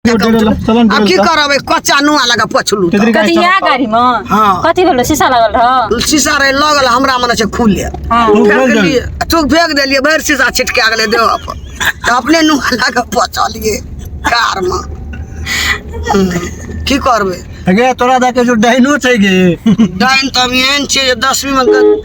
अब की करब एक कच्चा नुआ लगा पछलू तो। कथी यहाँ गाड़ी में हाँ। कथी भेल शीशा लगल रह शीशा रहे लगल हमरा मन से खुले हाँ। तू फेंक दिलिए तू फेंक दिलिए भर शीशा छिटके अगले देव पर तो अपने नुआ लगा पछलिए कार में की करबे गे तोरा दे के जो डाइनो छै गे डाइन तब एहन छै जे दसवीं में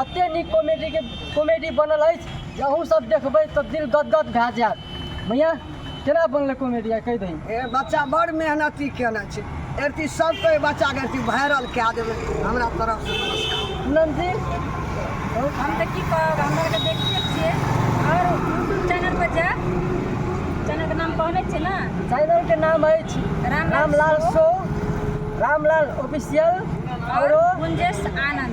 एते नीक कॉमेडी के कॉमेडी बनल अछि जे अहूँ सब देखबै तऽ दिल गदगद भए जायत मैया केना बनलै कॉमेडी आ कहि दही ए बच्चा बड़ मेहनती केने छै एरती सबके एहि बच्चाके एरती वायरल कए देबै हमरा तरफसँ नमस्कार पूनम जी हम तऽ की कहब हमरा आरके देखते छियै आओर यूट्यूब चैनल पर जायब चैनल के नाम कहने छियै ने चैनल के नाम अछि Ramlal Ramlal show. Show Ramlal official आरो गुंजेश आनंद